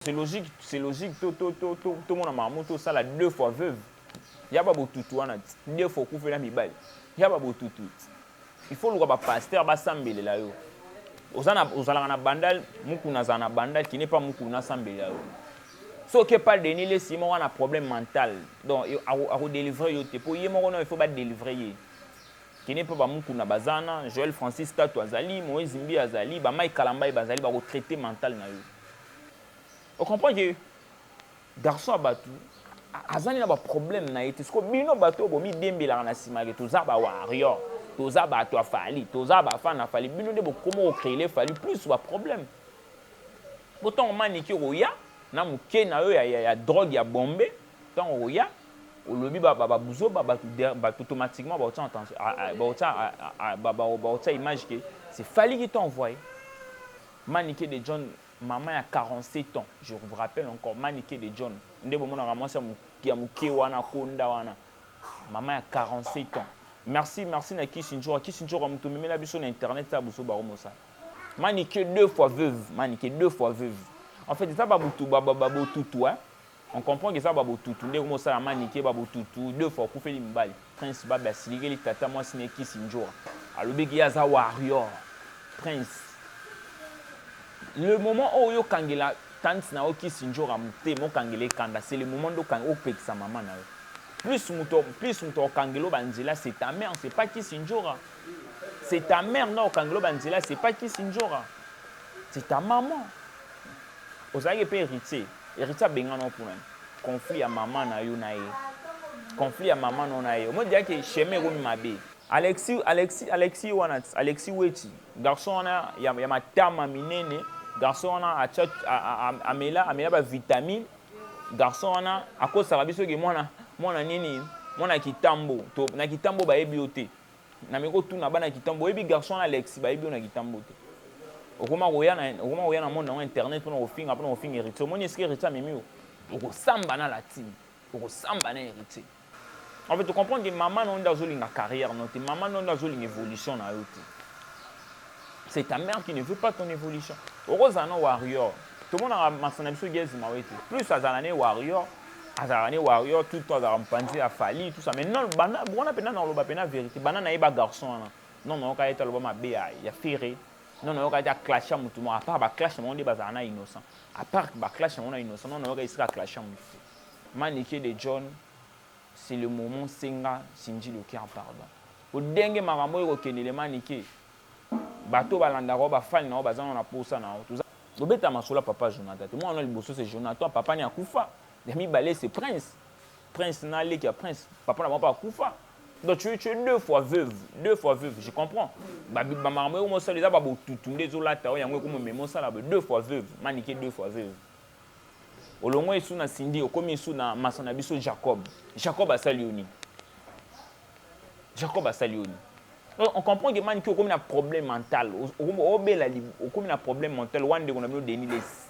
C'est logique, c'est logique, to to to to to mona mamu to sala deux fois veuve. Yaba botutu wana deux fois kufela mibali. Yaba botutu. Il faut luka ba pasteur ba sambelela yo. Ozana ozalaka na bandal mukuna za na bandal qui n'est pas mukuna sambelela yo. Soki epa Denis Lessi moko na problème mental. Donc ako délivrer yo te po ye moko non il faut ba délivrer ye. Qui n'est pas ba mukuna bazana, Joël Francis Tatu azali, Moïse Mbi azali, ba Mike Kalambay bazali ba ko traiter mental na yo. O comprend que garçon ya batu azali na ba problème na ye te siko bino bato bomidembelaka na nsima ke toza ba warrior toza bato ya fali toza bafan na fali bino nde bokoma okreele fali plus ba problème po ntango maniki okoya na moke na yo ya, ya, ya drogue ya bombe ntango okoya olobi babuzoba bato automatiquement bakotia image ke se fali ki to envoye Manike de John maman ya 47 ans je vous rappelle encore manike de John nde bomonaka mwasi ya muke wana akonda wana maman ya 47 ans merci merci na kisi njora kisi njora mutu memela biso na internet sa buso baro mosala manike deux fois veuve manike deux fois veuve en fait eza ba mutu ba ba botutu hein On comprend que eza ba botutu nde ekomi kosala manike ba botutu deux fois okufeli mibali prince babe asilikeli tata mwasi naye kisi ndjora alobi ke ye aza warrior prince le moment oyo okangela tante na yo kisi ndjora motema okangela ye kanda c'est le moment nde opekisa mama na yo plus moto plus moto akokangela yo banzela c'est ta mère c'est pas kisi ndjora c'est ta mère nde akokangela yo banzela c'est pas kisi ndjora c'est ta maman ozalaki mpe héritier Heritier abengana yo pona conflit ya maman na yo na ye. Conflit ya maman no na ye. Omoni déjà que chemin ekomi mabe. Alexis, Alexis, Alexis wana, Alexis Wetshi, garçon wana ya, ya matama minene, garçon wana atia amela amela ba vitamine, garçon wana akosaka biso ke mwana mwana nini mwana kitambo to na kitambo bayebi yo te Na me ko tuna bana kitambo boyebi garçon na Alexis bayebi na kitambo te. Okoma koya na okoma koya na monde na internet pona kofinga pona kofinga héritier. Omoni eske héritier amemi yo? Okosamba na latine. Okosamba na héritier. En fait, tu comprends que maman na yo nde azolinga carrière na yo te, maman na yo nde azolinga évolution na yo te. c'est ta mère qui ne veut pas ton évolution okozala na warrior tomonaka masana na biso gezi mawe te plus azala ne warrior azalaka ne warrior tout temps azalaka mopanzi ya fali tout ça mais non banda wana mpenza na koloba mpenza vérité banda na ye ba garçon wana non nayoka ye te aloba mabe ya, ya ferre non nayoka ye te aclasha motu moko apart baclash na bango nde bazala na innocent apart baclash na bango na innocent non nayoka esika aclasha motu te manike de john c'est le moment senga sinji loker pardon Po denge makambo oyo eko kende le manike bato oyo ba landaka yo ba fan na yo baza nano na posa na yo toza. Bobeta masolo ya papa Jonathan te mwana wana ya liboso se Jonathan papa naye akufa ya mibale se prince prince na leki ya prince papa na bango pe akufa donc tu tu es deux fois veuve deux fois veuve je comprends ba ba makambo eko mosala eza ba botutu nde ezo lata yo yango eko momema osala boye deux fois veuve manike deux fois veuve olongwe esu na Cindy okomi esu na masa na biso Jacob Jacob asali yo nini Jacob asali yo nini? On comprend que man ki okomi na problème mental. Obela okomi na problème mental. Wan ndeko na bino Denis Les.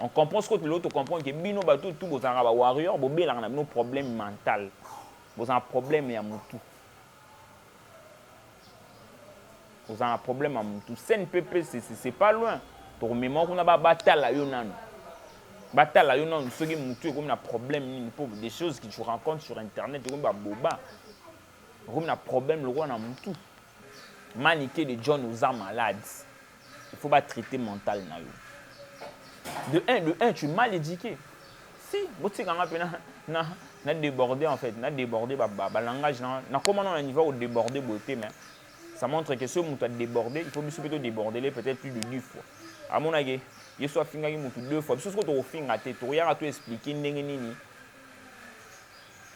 On comprend ce que tu l'autre comprend que bino bato tout bozanga ba warrior bobelanga na bino problème mental. Bozanga problème ya mutu. Oza na problème ya mutu. CNPP c'est pas loin. Tokomema kuna ba batala yo nanu. Batala yo nanu soki mutu ekomi na problème nini po des choses que tu rencontres sur internet ekomi ba boba. Ekomi na problème lokola na mutu. Manike de John oza malade. Il faut ba traiter mental na yo. De un, de un, tu es mal éduqué. Si, botika nga pe na na na déborder en fait, na déborder ba ba, ba langage na na comment on a niveau au déborder beauté mais ça montre que ce mutu a déborder, il faut biso pe to déborder les peut-être plus de 10 fois. À mon avis, yesu afingaki mutu deux fois biso soko tokofinga te tokoyaka to expliquer ndenge nini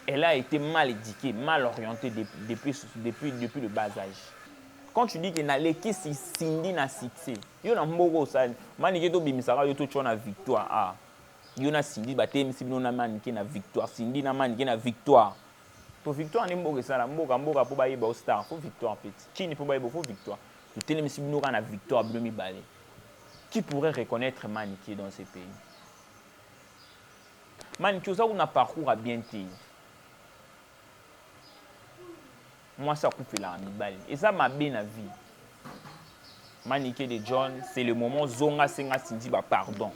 elle a été mal éduquée mal orientée depuis, depuis, depuis, depuis le bas âge Quand tu dis que na lekisi Cindy na succès, yo na mboka osali, manike to bimisaka yo to tshwa na victoire ah. Yo na Cindy ba telemisi bino na manike na victoire, Cindy na manike na victoire. To victoire nde mboka esala, mboka mboka po ba yeba yo star, faut victoire petit. Chini po ba yeba faut victoire. To telemisi bino ka na victoire bino mibale. Qui pourrait reconnaître manike dans ce pays? Manike oza kuna parcours a bien te. Mwasi akufelaka mibali. Eza mabe na vie. Manike de John, c'est le moment zonga senga Cindy ba pardon.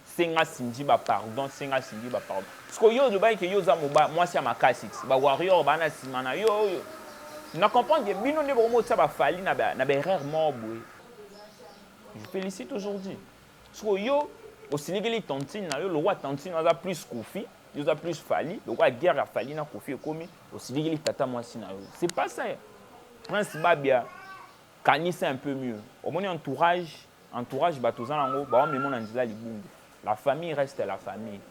Senga Cindy ba pardon, senga Cindy ba pardon. Parce que yo olobaki que yo oza moba mwasi ya makasi. Ba warrior bana sima na yo oyo. Na comprendre que bino nde bokomo tsa ba fali na ba na ba erreur moko boye. Je félicite aujourd'hui. siko yo osilikeli tantine na yo lokola tantine aza plus kofi yo oza plus fali lokola guerre ya fali na kofi ekomi osilikeli tata mwasi na yo c'est pas ça prince babia kanisa un peu mieux omoni entourage entourage bato oza nango bawamema na nzela libungi la famille reste la famille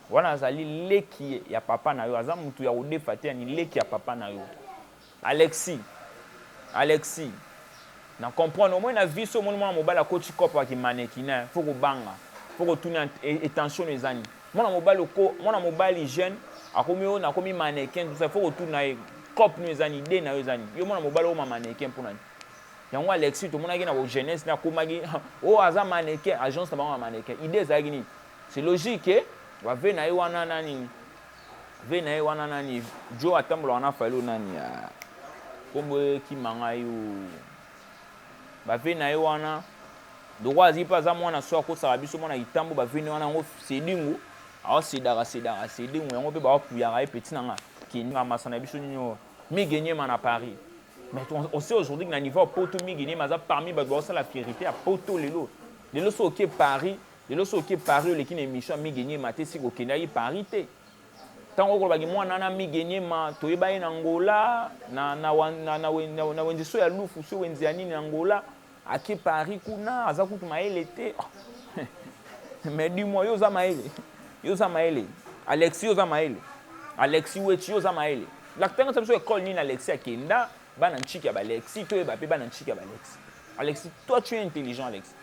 wana azali leki ya papa na yo aza motu ya kodefa te yani leki ya papa na yo Alexis Alexis na comprendre omoni na vie so omoni mwana mobali akoti cope ya ki mannequinat faut kobanga faut kotuna intention eza nini mwana mobali oko mwana mobali jeune akomi yo nakomi mannequin tout ça faut kotuna ye cope no eza nini idée na yo eza nini yo mwana mobali okoma mannequin mpo na nini yango Alexis tomonaki na ko jeunesse na komaki oh aza mannequin agence na bango ya mannequin idée ezalaki nini c'est logique que bave na ye wana na nini Ve na ye wana nani Joe atambolaka na Fayulu nani ya kombo ekima ngai bave na ye wana ndoko azali mpe aza mwana so akosaka biso mwana kitambo baveni wana yango sedingu aosedaka sedaka sedingu yango mpe baopuyaka ye peti na nga kenga masa na biso nyonso migenyema na paris mais on sait aujourd'hui que na niveau ya poto migenyema aza parmi bato baosala fierité ya poto lelo lelo so oke paris Lelo soki oke Paris oleki na emission ya Migue Niema te siko okendaki Paris te. Ntango okolobaki mwana wana Migue Niema toyeba ye na Angola na, na, na, na, na, na wenze so ya lufu so wenze ya nini na Angola ake Paris kuna aza kutu mayele te oh. mais du moins yo oza mayele yo oza mayele Alexis yo oza mayele Alexis Wetchi yo oza mayele lakitanga sa biso ekole nini Alexis akenda bana ntshiki ya balexi toyeba mpe bana ntshiki ya balexi Alexis toi tu es intelligent Alexis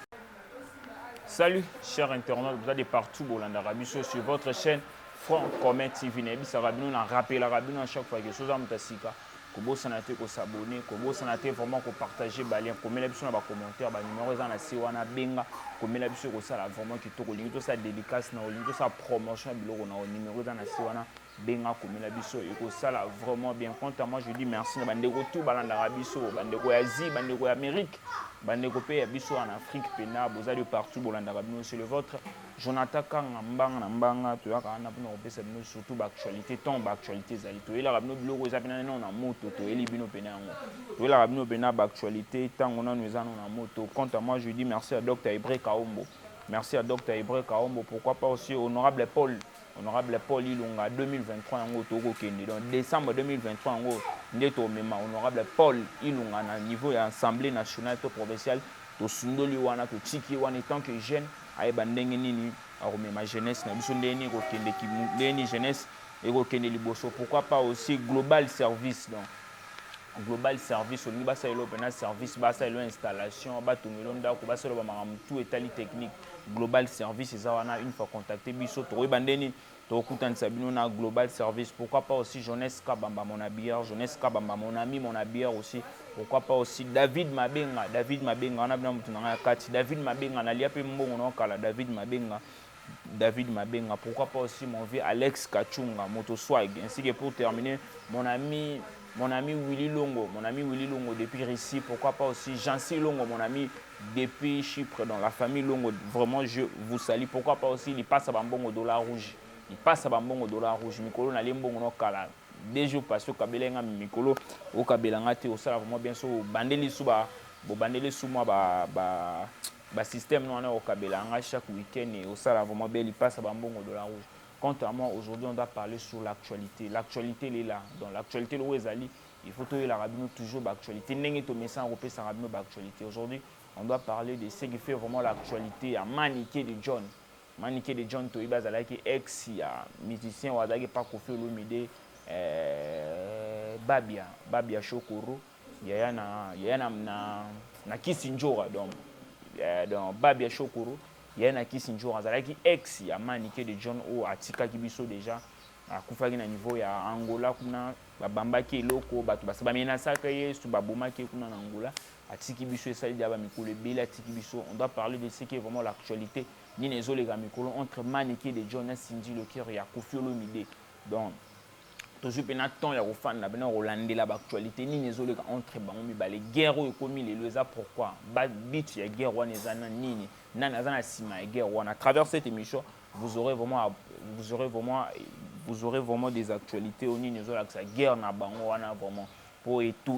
Salut, chers internautes, vous êtes de partout, Bolanda Rabisso, sur votre chaîne Franc Commun TV. Nebisa Rabino, on rappelle Rabino à chaque fois que Sosa Mutassika, kobosana te ko s'abonner, kobosana te vraiment ko partager ba liens, komela biso na ba commentaires, ba numéros eza na si wana benga, komela biso ko sala vraiment kitoko, lingi to sa dédicace na lingi to sa promotion biloko na numéro eza na si wana benga akomela biso ekosala vraiment bien quant à moi je dis merci na bandeko tout balandaka biso bandeko ya asie bandeko ya amérique bandeko mpe ya biso en afrique mpena boza de partout bolandaka bino c'est le vôtre jonathan kanga mbanga na mbanga toyaka wana mpona kopesa bino surtout baactualité ntango baactualité ezali toyelaka bino biloko eza mpena nano na moto toyeli bino mpena yango toyelaka bino mpena baactualité ntango nano eza nano na moto quant à moi je dis merci ya docteur hebreu kaombo merci ya docteur hebreu kaombo pourquoi pas aussi honorable paul honorable paul ilunga 2023 yango tokokende donc décembre 2023 yango nde tomema honorable paul ilunga na niveau ya assemblée nationale to provinciale tosundoli wana totiki wana etant que jeune ayeba ndenge nini akomema jeunesse na biso ndenge nini ekokende ndenge nini jeunesse ekokende liboso pourquoi pas aussi global service donc global service olingi basalelo mpena service basalelo installation batongelo ndako basalelo bamakambo tout etali technique global service eza wana une fois contacte biso tokoyeba nde nini tokokutanisa bino na global service pourquoi pas aussi jeunesse kabamba mon habilleur jeunesse kabamba mon ami mon habilleur aussi pourquoi pas aussi david mabenga david mabenga wana bina moto na ngai ya kati david mabenga nalia mpe mbongo na okala david mabenga David Mabenga, pourquoi pas aussi mon vieux Alex Kachunga, Moto Swag, ainsi que pour terminer, mon ami mon ami Willy Longo, mon ami Willy Longo depuis Russie, pourquoi pas aussi Jancy Longo, mon ami Depuis Chypre donc la famille Longo vraiment je vous salut pourquoi pas aussi lipasa ba mbongo dollar rouge lipasa ba mbongo dollar rouge mikolo na lembongo no kala deux jours passé okabela nga mikolo okabela nga te osala vraiment bien so bandeli su ba bobandeli su mwa ba ba ba système no wana okabela nga chaque week-end et osala vraiment bien lipasa ba mbongo dollar rouge quant à moi aujourd'hui on doit parler sur l'actualité l'actualité elle est là donc l'actualité le ezali Il faut toyelaka bino toujours ba actualité ndenge tomesana kopesaka bino ba actualité aujourd'hui on doit parler de ce qui fait vraiment l'actualité ya Manike de John Manike de John toyebi azalaki ex ya musicien oyo azalaki pa Koffi Olomide eh, Babia Babia Shokoro yaya na yaya na na, na Kisindjora donc eh, donc Babia Shokoro yaya na Kisindjora azalaki ex ya Manike de John oyo atikaki biso déjà akufaki na niveau ya angola kuna babambaki eloko bato basa bamenasaka ye so babomaki ye kuna na angola atiki biso esali dia bamikolo ebele atiki biso on doit parler de ce qui est vraiment l'actualité nini ezoleka mikolo entre manike de john na cindy le cœur ya kofi olomide donc tozwi mpena temps ya kofanda mpena kolandela baactualité nini ezoleka entre bango mibale guerre oyo ekomi lelo eza pourquoi babit ya guerre wana eza na nini nani aza na nsima ya guerre wana à travers cette émission Vous aurez vraiment vous aurez vraiment vous aurez vraiment des actualités au nini ezolakisa guerre na bango wana vraiment mpo etu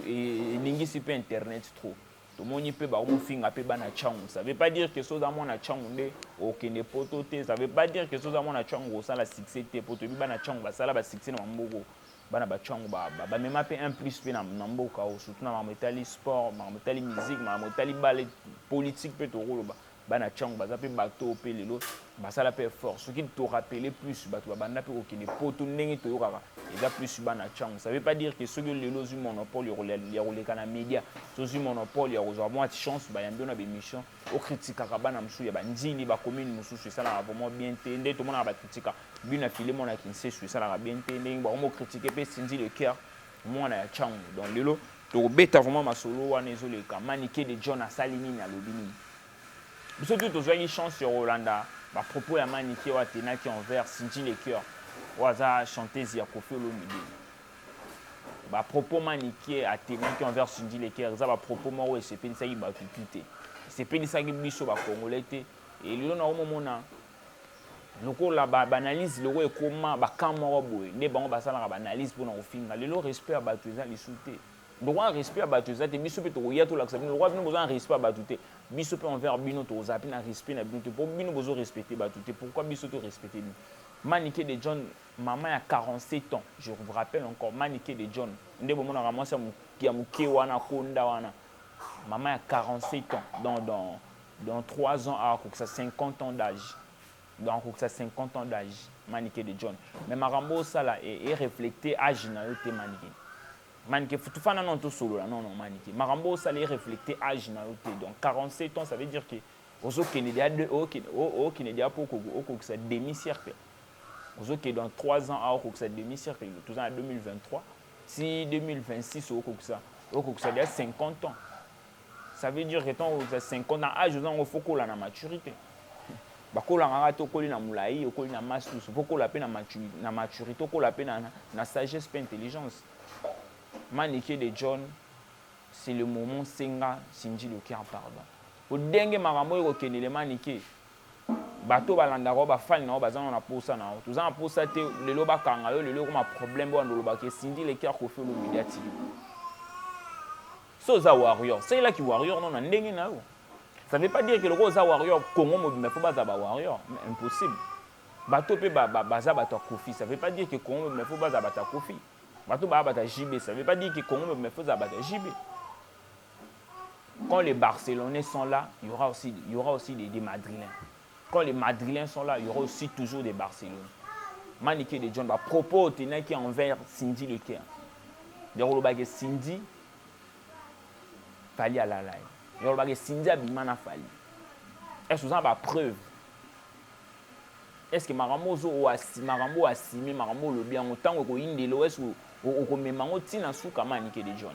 eningisi mpe internet trop tomoni mpe bakomofinga mpe bana changu ça veut pas dire que soza mwana changu nde okende poto te ça veut pas dire que soza mwana changu osala succès te mpo toyebi bana changu basala basuccès na bamboko bana bachangu bamema mpe un plus mpe na mboka o surtout na makambo etali sport makambo etali musique makambo etali bale politique mpe tokoloba Bana Tshangu baza pe bato oyo pe lelo basala pe effort. Soki to rappeler plus bato babanda pe kokende poto ndenge toyokaka eza plus bana Tshangu. Ça veut pas dire que soki yo lelo ozwi monopole ya koleka na media, soki ozwi monopole ya kozwa mua chance bayambi yo na b'emission, o critikaka bana mosusu ya ba N'djili, ba commune mosusu esalaka vraiment bien te. Nde tomonaka ba critika Buyi na Filemon na Kinsesu esalaka bien te. Ndenge bakomi ko critiquer pe Cindy le Coeur. mwana ya changu donc lelo tokobeta vraiment masolo wana ezoleka manike de john asali nini alobi nini biso tu tozwaki chance ya kolanda bapropos ya manike oyo atenaki envers sinji le cœur oyo aza chanteuse ya kofi olomide bapropos manike atenaki envers sinji le cœur eza bapropos moko esepelisaki bato tu te esepelisaki biso bacongolais te elelo na omomona lokola ba analyse lokola ekoma ba camp moko boye nde bango basalaka ba analyse mpona kofinga lelo respect ya bato eza lisu te lokola respect ya bato eza te biso mpe tokoya tolakisa bino lokola bino boza na respect ya bato te biso mpe envers bino tokozala mpe na respect na bino te mpo bino bozo respecte bato te pourquoi biso to respecte bino manike de john mama ya 47 ans je vous rappelle encore manike de john nde bomonaka mwasi ya moke wana konda wana mama ya 47 ans donc donc Dans trois ans, akokisa 50 ans d'age. Donc akokisa 50 ans d'age, Manike de John. Mais makambo osala e, e reflecte age na yo te Manike. Manike futufana non tosolola non non Manike. Makambo osala e reflecte age na yo te. Donc 47 ans ça veut dire que ozokende dia okende dia po okokisa demi siècle. Ozokende dans 3 ans akokisa demi siècle. Toza na 2023. Si 2026 okokisa okokisa dia 50 ans. Ça veut dire que tant que 50 ans, âge, on faut qu'on la maturité. bakolaka kaka te okoli na molai okoli na masse lusu mpo okola mpe na maturité okola mpe na sagesse mpe intelligence manike de john c'est le moment senga sindi lokiar pardon mpo ndenge makambo oyo kokendele manike bato balandaka bafani na yo baza na posa na yo toza na posa te lelo bakanga yo lelo ekoma problème oyo andolobaka esindi lekiar kofi olomediatiki Soki oza warrior, salela ki warrior no na ndenge na yo. Ça veut pas dire que lokola oza warrior, Congo mobimba faut baza ba warrior, mais impossible. Bato pe ba, ba, baza bato ya Koffi, ça veut pas dire que Congo mobimba faut baza bato ya Koffi. Bato ba bato ya JB, ça veut pas dire que Congo mobimba faut baza bato ya JB. Quand les Barcelonais sont là, il y aura aussi, il y aura aussi des, des Madrilènes. Quand les madrilens sont là, il y aura aussi toujours des Barcelone. Manike de John, ba propos otenaki envers Cindy le Caire. Ndeko olobaki Cindy Fally alala ye. Ndeko olobaki Cindy abima na Fally. Est-ce que oza ba preuve? Est-ce que makambo ozo oasi makambo oasime makambo olobi yango ntango ekoyindela est-ce que okomema yango ntina suka manike de John?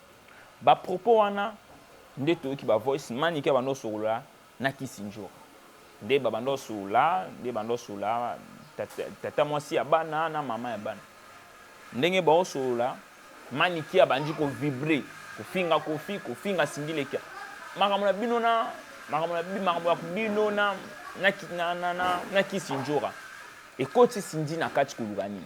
Ba propos wana nde toyoki ba voice manike abanda kosolola na Kisindjora nde babanda kosolola nde banda kosolola tata, tata mwasi ya bana na mama ya bana ndenge baosolola manike abandi ko vibre kofinga kofi kofinga sindilekia makambo na bino na makambo na makambo ya bino na na na na, na Kisindjora ekoti sindi na kati koluka nini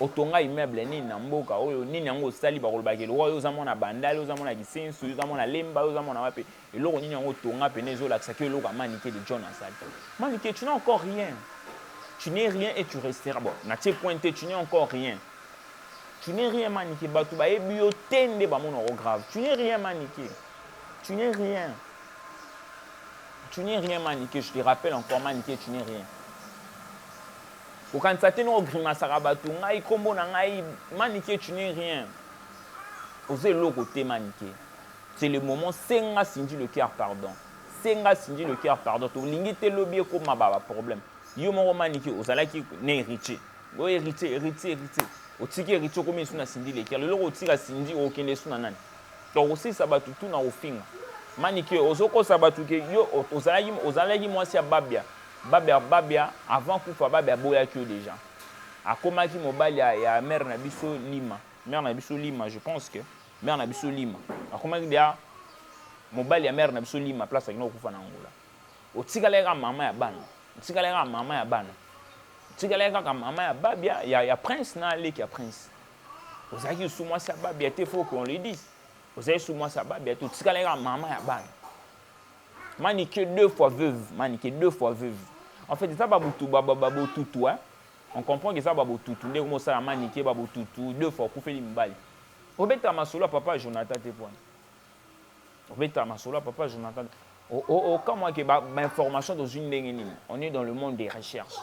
otonga immeuble nini na mboka oyo nini yango osali bakolobaka elokoka yo oza mwana bandali oza mwana kisensu oza mwana lemba yo oza mwana wapi eloko nini yango otonga pene ezolakisa ki eloko ya manike de john asali manike tu n'as encore rien tu n'es rien et tu restera bon natie point te tu n'es encore rien tu n'es rien manike bato bayebi yo te nde bamona yango grave tu n'es rien manike tu n'es rien tu n'es rien manike je te rappelle encore manike tu n'es rien Okanisa te non o grimasaka batu ngai kombo na ngai manike tu n'es rien oza eloko te manike c'est le moment senga Cindy le coeur pardon senga Cindy le coeur pardon tolingi te lobi ekoma ba ba problème yo moko manike ozalaki na Heritier oh Heritier Heritier Heritier otiki Heritier okomi lisusu na Cindy le coeur lelo okotika Cindy okokende lisusu na nani donc okosilisa batu tout na kofinga manike ozokosa batu ke yo ozalaki ozalaki mwasi ya babia Babia Babia avant kufa Babia aboyaki yo dejà akomaki mobali ya, ya mère na biso Lima mère na biso Lima je pense que mère na biso Lima akomaki deja mobali ya mère na biso Lima place akina kokufa na Angola otikalaki kaka mama ya bana otikalaki kaka mama ya bana otikalaki kaka mama ya Babia ya, ya prince na leki ya prince ozalaki lisusu mwasi ya Babia te faut qu'on le dise ozalaki lisusu mwasi ya Babia te otikalaki kaka mama ya bana Manike deux fois veuve, manike deux fois veuve. En fait, eza babutu babotutu, hein. On comprend que eza babotutu nde komosala manike babotutu deux fois okufeli mibali. Obeta masolo ya papa Jonathan te pwana. Obeta masolo ya papa Jonathan. Okamwa ke ba information tozwi ndenge nini? On est dans le monde des recherches.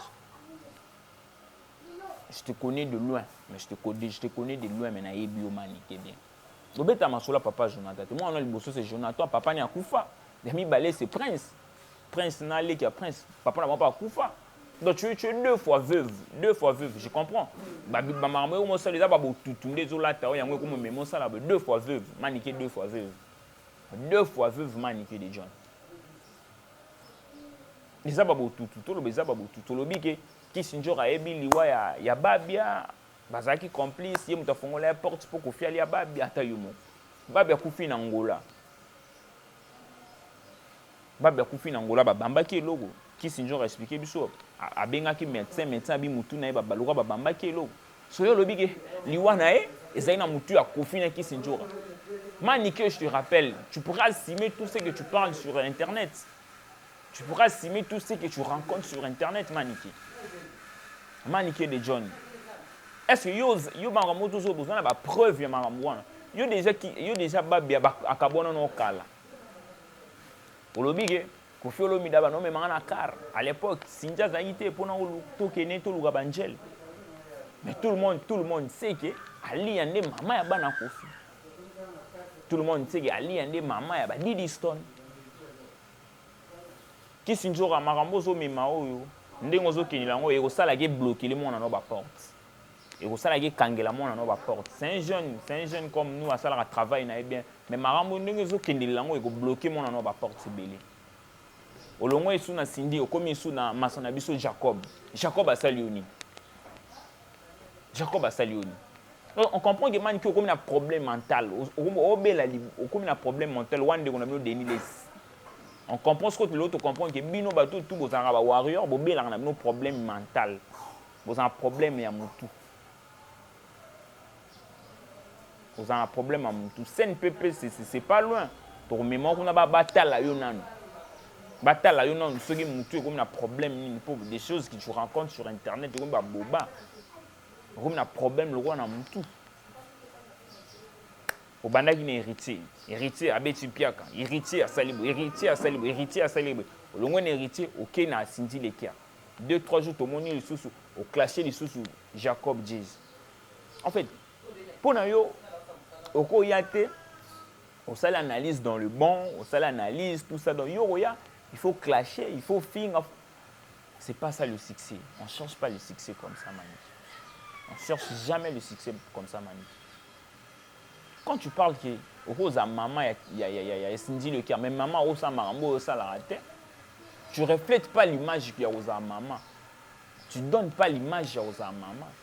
Je te connais de loin, mais je te connais, je te connais de loin mais nayebi yo manike bien. Bobeta masolo ya papa Jonathan te. Mwana liboso se Jonathan, papa ni akufa. Ya mibale se Prince. Prince na leki ya Prince, papa na bango mpe akufa. Donc tu, tu es deux fois veuve, deux fois veuve, je comprends. Ba ba makambo eko mosala eza ba botutu nde ezolata oyo yango ekoma meme osala ba deux fois veuve, manike deux fois veuve. Deux fois veuve manike de John. Eza ba botutu, toloba eza ba botutu. Tolobi ke Kissinger ayebi liwa ya, ya Babia Bazalaki complice, ye moto afongola ya porte mpo Koffi alia babi ata yo moko. Babi akufi na Angola. Babi akufi na Angola, babambaki eloko. Kissinger expliquer biso, abengaki medecin, medecin abi mutu na ye babaluka babambaki eloko. Soyo olobi ke liwa na ye ezali na mutu ya Koffi na Kissinger. Manike, je te rappelle, tu pourras assumer tout ce que tu parles sur internet. Tu pourras assumer tout ce que tu rencontres sur internet manike. Manike de John. Est-ce que yo yo bango moto zo bozo na ba preuve ya makambo wana. Yo déjà ki yo déjà babi akabona no kala. Olobi ke Koffi Olomide ba no memanga na car à l'époque Sinja azalaki te pona tokene toluka banjele. Mais tout le monde, tout le monde sait que Ali Yande, maman ya bana Kofi. Tout le monde sait que Ali Yande, maman ya ba Didiston. Kisindjora makambo ozo mema oyo ndenge ozo kendela yango ekosala ke bloquer mwana no ba porte ekosala ke kangela mwana no ba porte c'est un jeune c'est un jeune comme nous asalaka travail na ye bien mais makambo ndenge ezo kendelela yango eko bloquer mwana no ba porte ebele olongo esu na Cindy okomi esu na masa na biso Jacob Jacob asali yo nini Jacob asali yo nini? On comprend que manike okomi na problème mental obela okomi na problème mental wana ndeko na bino Denis Lessi on comprend ce que tu l'autre comprendre que bino bato tout bozalaka ba warrior bobelaka na bino problème mental bozalaka problème ya mutu Oza na problème ya mutu. CNPP c'est pas loin. Tokomema kuna ba batala yo nanu. batala yo nanu soki motu ekomi na problème nini mpo des choses qui tu rencontre sur internet ekomi baboba ekomi na problème lokola na motu obandaki na héritier héritier abeti mpiaka héritier asali bo héritier asali bo héritier asali bo olongwe na héritier okei na asindi lekia deux trois jours tomoni lisusu oclashe lisusu jacob jesus en fait mpo na yo okoya te osali analyse dans le bon osali analyse tout ça donc yo okoya il faut clasher il faut finga c'est pas ça le succès on cherche pas le succès comme ça mani on cherche jamais le succès comme ça mani quand tu parles que okozala mama ya, ya, ya, ya, ya esindi lekia mais mama akosala makambo oyo osalaka te tu reflète pas l'image ya kozala mama tu donne pas l'image ya kozala mama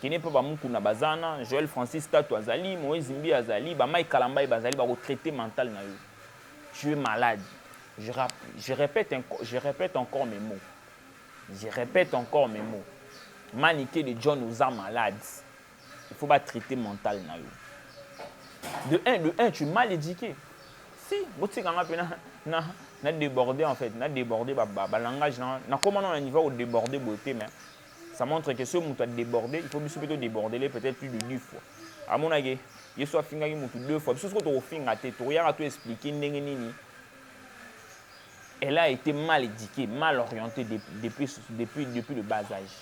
Kende epai ba Mukuna baza wana, Joel Francis Tatu azali, Moise Mbiye azali, ba Mike Kalambay bazali bako traiter mental na yo. Tu es malade. Je, rap, je, repète, je repète encore mes mots. Je repète encore mes mots. Manike de John oza malade. Il faut ba traiter mental na yo. De un, de un, tu es mal éduqué. Si, botika nga pe na, na, na déborder en fait, na déborder ba, ba, ba langage na, na koma na niveau au déborder beauté mais ça montre que soki moto adeborde il faut biso mpe todebordele peut-être plus de dix fois amonake yesu afingaki motu deux fois biso soko tokofinga te tokoyaka to explike ndenge nini elle a été mal éduquée mal orientée depuis, depuis, depuis le bas âge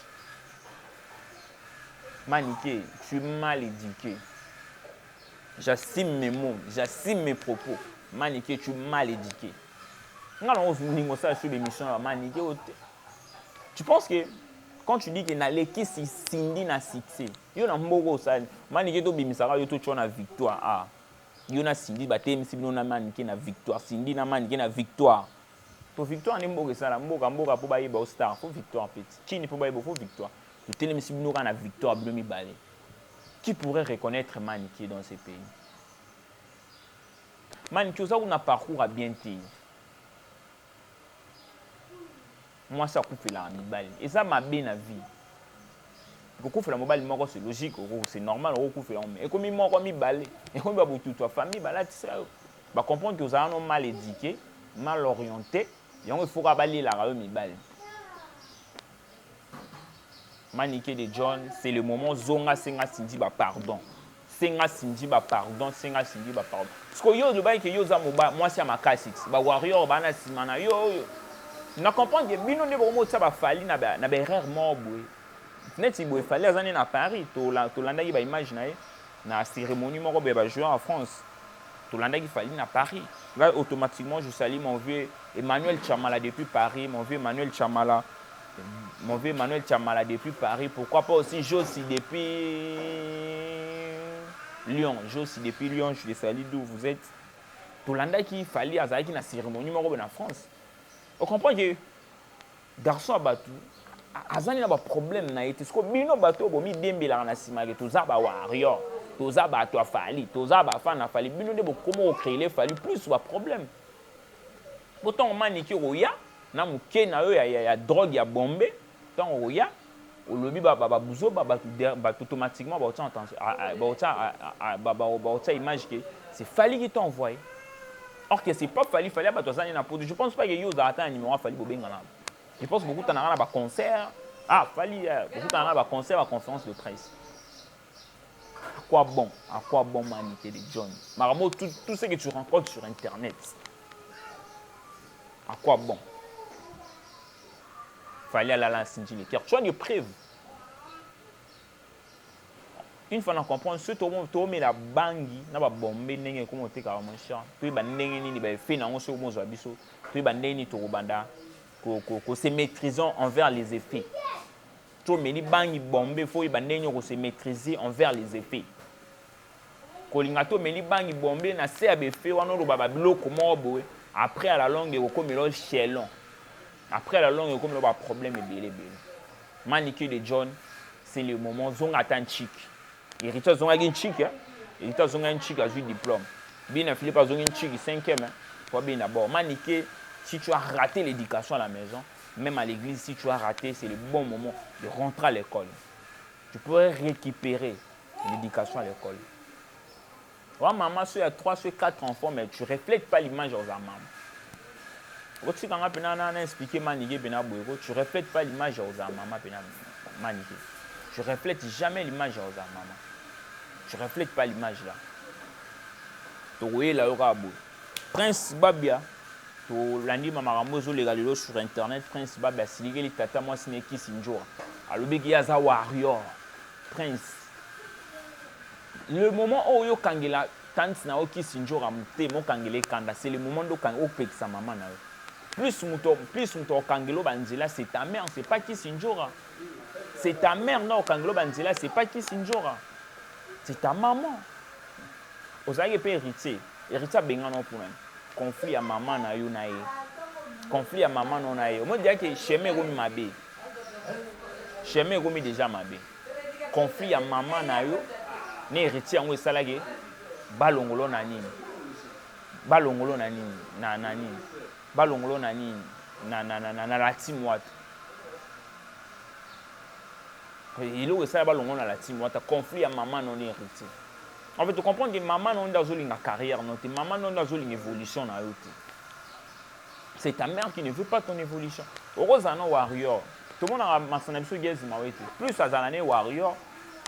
manike tu es mal éduqué j'assume mes mots j'assume mes propos manike tu es mal éduqué nga nango olingo osala sur l'émission ya manike oyo te Tu penses que quand tu dis que nalekisi Cindy na succès, yo na mboka osali manike tobimisaka yo totyo na victoire a ah. yo na Cindy batelemisi bino na manike na victoire, Cindy na manike na victoire po victoire nde mboka esala mboka mboka mpo bayeba ostar fo victoire mpe chini mpo bayeba fo victoire totelemisi bino kaka na victoire bino mibale qui pourrait reconnaître manike dans ce pays manike oza kuna parcours ya bien te Mwasi akufelaka mibali. Eza mabe na vie. Kokufela mobali moko c'est logique, c'est normal okufela yango mais ekomi moko mibale, ekomi ba botutu ya famille balatisa yo. Ba comprendre que ozalaka no mal éduqué, mal orienté, yango il faut kaka balelaka yo mibali. Manike de John, c'est le moment zonga senga Cindy ba pardon. Senga Cindy ba pardon, senga Cindy ba pardon. Parce que yo olobaki que yo oza moba mwasi ya makasi, ba warrior bana nsima na yo oyo. Na comprendre que bino nde bokomotisa ba Fally na ba na ba erreur moko boye. Neti boye Fally aza nde na Paris, tolandaki ba image na ye. Na ceremonie moko boye ba joueurs ya France tolandaki Fally na Paris. Ngai automatiquement je salue mon vieux Emmanuel Tshamala depuis Paris, mon vieux Emmanuel Tshamala, mon vieux Emmanuel Tshamala depuis Paris. Pourquoi pas aussi Josi depuis Lyon, Josi depuis Lyon, je les salue d'où vous êtes. Tolandaki Fally azalaki na ceremonie moko boye na France. Au comprends que Garçon ya batu azani na ba problème na ye te siko bino bato oyo bomidembelaka na nsima ke toza ba warrior toza bato ya fali toza bafana ya fali bino nde bokoma kocreele fali plus ba problème po ntango maniki okoya na moke na yo ya, ya, ya drogue ya bombe ntango okoya olobi ba ba buzoba batu batu automatiquement ba otsa attention ah, ah, ba otsa ah, ba ba ba otsa image que c'est Fally qui t'a envoyé or que c'est pas Fally Fally batu azani na poto je pense pas que yo za ata numéro ya Fally bobenga na je pense beaucoup tanaka na ba concert ah Fally euh, beaucoup tanaka ba concert ba conférence de presse à quoi bon à quoi bon manité de John Maramo tout, tout ce que tu rencontres sur internet à quoi bon Fally alala na Cindy Lecker. Tu as des preuves? Une fois na comprendre soki toomela bangi na babombe ndenge ekoma otekaka mon cher toyeba ndenge nini baefe na yango soki okozwa biso toyeba ndenge nini tokobanda kose maîtrisant envers les effets tomeli bangi bombe fo oyeba ndenge nini okose maîtriser envers les effets Kolinga to meli bangi bombe na se ya befe wana oloba ba biloko moko boye après à la longue ekokomela yo chelon après à la longue ekokomela ba problème ebele ebele manike de john c'est le moment zonga ata nchiki héritier azongaki nchiki hein? héritier azongaki nchiki azwi diplôme bina philippe azongi nchiki cinquième hein? po abina bord manike si tu as raté l'éducation à la maison même à l'église si tu as raté c'est le bon moment de rentrer à l'école tu peux récupérer L'education à l'ecole oza mama so ya 3 so 4 enfants mais tu reflète pas l'image oza mama okotika nga pena na na expliquer manike pena boye ko tu reflète pas l'image oza mama pena manike tu reflète jamais l'image oza mama tu reflète pas l'image là tokoyela yo kaka boye prince babia tolandi makambo ezoleka lelo sur internet prince babia asilikeli tata mwasi na ekisi njora alobiki ye aza warrior Prince le moment oyo okangela tante na yo kisi njora motema okangela ye kanda c'est le moment nde okangi opekisa mama na yo plus moto plus moto okangelo ba nzela c'est ta mère c'est pas kisi njora c'est ta mère nde okangelo ba nzela c'est pas kisi njora c'est ta maman ozalaki mpe héritier héritier abengana yo mpo nani conflit ya mama na yo na ye conflit ya mama na yo na ye omodiyaki chemin ekomi mabe chemin ekomi deja mabe conflit ya mama na yo na héritier yango esalaki balongolo na nini balongolo na nini na na nini balongolo na nini na na na na na la team wata eloko esala balongolo na la team wata conflit ya mama na yo na héritier en fait tu comprends que mama na yo nde azolinga carrière na yo te mama na yo nde azolinga évolution na yo te c'est ta mère qui ne veut pas ton évolution okozala na warrior tomonaka masana na biso gezi mawe te plus azala ne warrior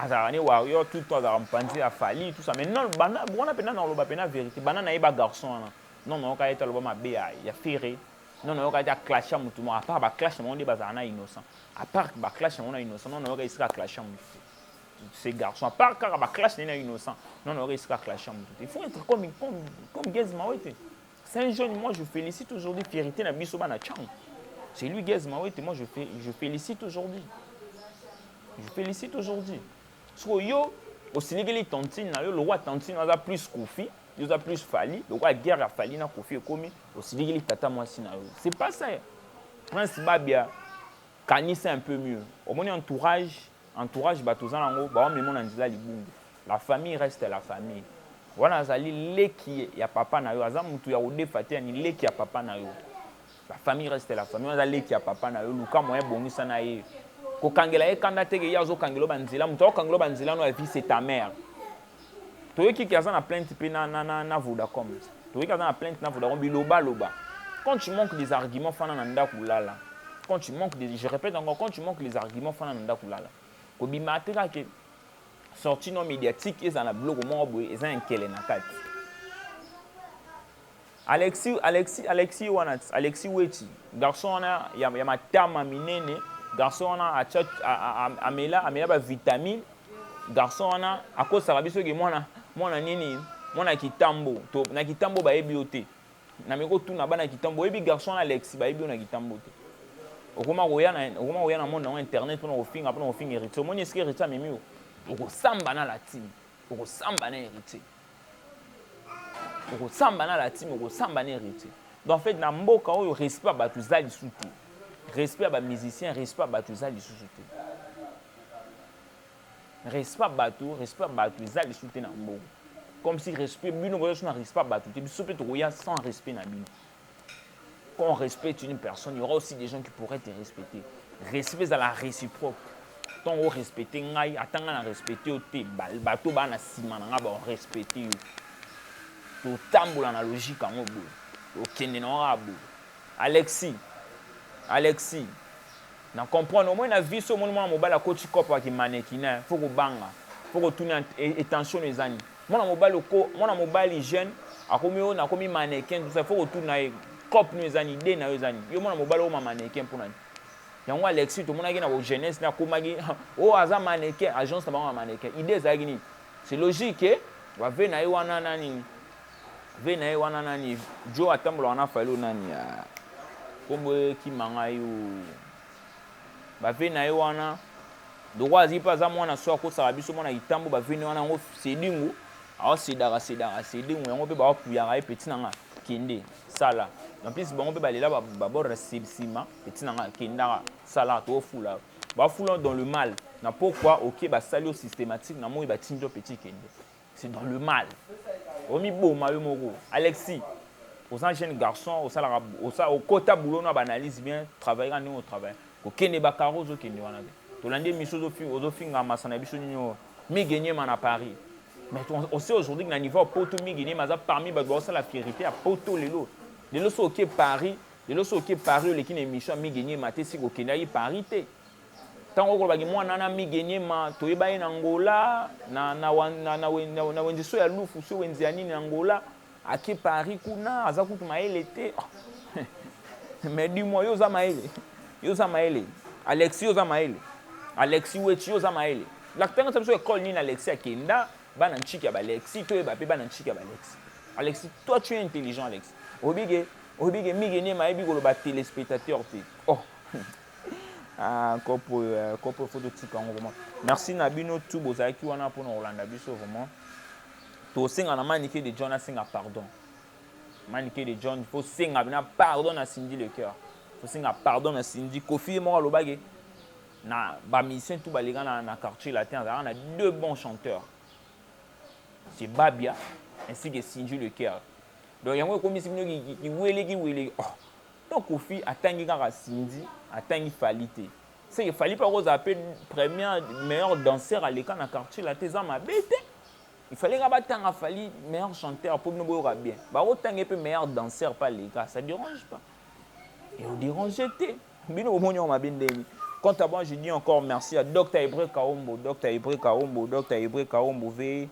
azalaka ne warrior tout temps azalaka mopanzi ya fali tout ça mais non banda wana mpenza na koloba mpenza vérité banda na ye ba garçon wana non nayoka ye te aloba mabe ya, ya ferre non nayoka ye te aclasha motu moko apart baclash na bango nde bazala na innocent apart baclash na bango na innocent non nayoka esika aclasha motu te ces garçons apart kaka baclash na ye na innocent non nayoka esika aclasha motu te il faut être comme, comme, comme gezi mawe te Saint John, moi je félicite aujourd'hui fierté na biso bana Chang. C'est lui Gaz Mawete, moi je, fais, je félicite aujourd'hui. Je félicite aujourd'hui. Soko yo osilikeli tantine na yo lokola tantine aza plus kofi yo oza plus fali lokola guerre ya fali na kofi ekomi osilikeli tata mwasi na yo c'est pas ça prince babia kanisa un peu mieux omoni entourage Entourage bato oza nango ba memo na nzela libungi. La famille reste la famille. Wana azali leki ya papa na yo, aza mutu ya kodefa te, ni leki ya papa na yo. La famille reste la famille. Wana aza leki ya papa na yo, luka moyen bongisa na ye. Kokangela ye kanda te ke ye azokangela yo ba nzela, mutu akokangela yo ba nzela no ya vie c'est ta mère. toyoki ke aza na plainte mpe na, na, na, na vodacom toyoki aza na plainte na vodacom bilobaloba quand tu manques des arguments fana na ndako lala quand tu manques des, je répète encore quand tu manques les arguments fana na ndako lala kobima te kaka ke sorti no médiatique ezala na biloko moko boye eza ya nkele na kati Alexi Alexi Alexi wana Alexi Wetshi garçon wana ya, ya matama minene garçon wana acha amela amela ba vitamine garçon wana akosaka biso ke mwana mwana nini mwana kitambo to na kitambo bayebi yo te na meko tuna bana kitambo oyebi garçon wana Alexi bayebi yo na kitambo te okoma koya na okoma koya na monde yango internet pona kofinga pona kofinga héritier omoni esike héritier amemi yo okosamba na latine okosamba na héritier okosamba na latime okosamba na héritier donc en fait na mboka oyo respect ya bato eza lisusu te respect ya bamusicien respect ya bato eza lisusu te respect ya bato respect ya bato eza lisusu te na mboka comme si respect bino boza lisusu na respect ya bato te biso mpe tokoya sans respect na bino Quand on respecte une personne, il y aura aussi des gens qui pourraient te respecter. Respect à la réciproque. Tant on respecte ngai, attends on respecte au te, bato bana sima na ngai ba respecte yo. To tambola na logique en obo. To kende na abo. Alexis. Alexis. Na comprendre au moins na vie so mon mobala coach cop qui mannequin, faut ko banga. Faut ko tuna attention les amis. Mwana mobali oko mwana mobali jeune akomi ona akomi mannequin tout ça faut kotuna ye cop no eza nini idee na yo eza nini yo mwana mobali okoma mannequin mpo na nini yango alexi tomonaki na ko jeunesse na akomaki o oh, aza mannequin agence na bango ya mannequin idee ezalaki nini c'est logique ke bave na ye wana na nini ve na ye wana na nini jo atambolaka na fali o nani ya nkombo ekima ngai o Ba vie naye wana lokola aziki mpe aza mwana so akosaka biso mwana kitambo ba vie naye wana yango sedingu aosedaka sedaka sedingu yango mpe baopuyaka ye peti na nga kende sala en plus bango mpe balela babordre nsima peti na nga kendaka sala toofula bafula dans le mal na pokwa oke basali yo systématique na moi batindi yo peti kende c'est dans le mal omiboma yo moko alexis oza jeune garçon osalaka osa okota boulot na baanalyse bien travaillera ndenge otravaille kokende bakaro ozokende wana te tolandi emiso ozofinga masa na biso nini oyo migenyema na paris mais on sait aujourd'hui que na niveau ya poto migenyema aza parmi bato baosala fierité ya poto lelo lelo so oke paris lelo so oke paris oleki na émission ya migenyema te si kokendaki paris te ntango okolobaki mwana wana migeniema toyeba ye na ngola na, na, na, na, na, na wenze so ya lufu so wenze ya nini na ngola ake paris kuna aza kutu mayele te oh. mais du moi yo oza mayele yo oza mayele alexi yo oza mayele alexi weti yo oza mayele lakitanga sa biso ekole nini alexi akenda bana ntshiki ya balexi toyeba mpe bana ntshiki ya balexi alexi toi tu es intelligent alexi oyebi ke oyebi ke migeniema ayebi koloba telespectateur te oh Ah, kopo euh, kopo faut totika yango vraiment merci na bino tu bozalaki wana mpona kolanda biso vraiment tosenga na manike de john asenga pardon manike de john faut senga bina pardon na cindy le cœur faut senga pardon na cindy kofi ye moko alobaki na bamusicien tu baleka na, na quartier latin azalaka na deux bons chanteurs c'est babia ainsi que cindy le cœur donc yango ekomisi bino kiweleki weleki oh Non koffi atangi kaka Cindy atangi Fally te seke Fally pe ako zala pe première meilleur danseur aleka na quartier latin eza mabe te il fallait kaka batanga Fally meilleur chanteur po bino boyoka bien bako tanga ye pe meilleur danseur pe aleka ça derange pas et au derange te bino bomoni yango mabe ndenge nini Quant à moi, je dis encore merci à Dr Ebre Kaombo, Dr Ebre Kaombo, Dr Ebre Kaombo, veuillez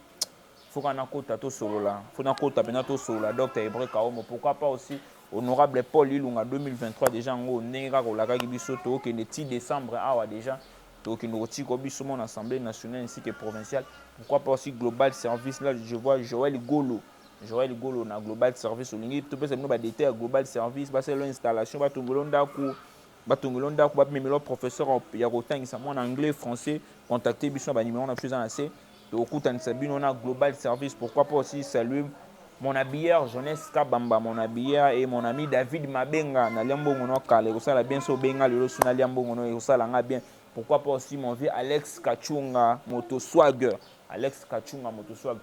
faut kana kota to solola faut na kota pena to solola docteur Hebreu Kaomo pourquoi pas aussi honorable Paul Ilunga 2023 déjà ngo ndenge kaka olakaki biso to kende ti décembre awa déjà to kende kotika biso mon assemblée nationale ainsi que provinciale pourquoi pas aussi global service là je vois Joël Golo Joël Golo na global service olingi to pesa bino ba détails global service ba selo installation ba tongolo ndako batongi lo ndako bamemi lo professeur ya kotangisa mwana anglais français contacte biso na banimero na biso eza na se tokokutanisa bino na global service pourquoi pas aussi salue mon habilleur jeunesse kabamba mon habilleur et mon ami david mabenga nalia mbongo no kala ekosala bien so obenga lelo so nalia mbongo no ekosala nga bien pourquoi pas aussi mon vieux alex kachunga moto swagger alex kachunga moto swagger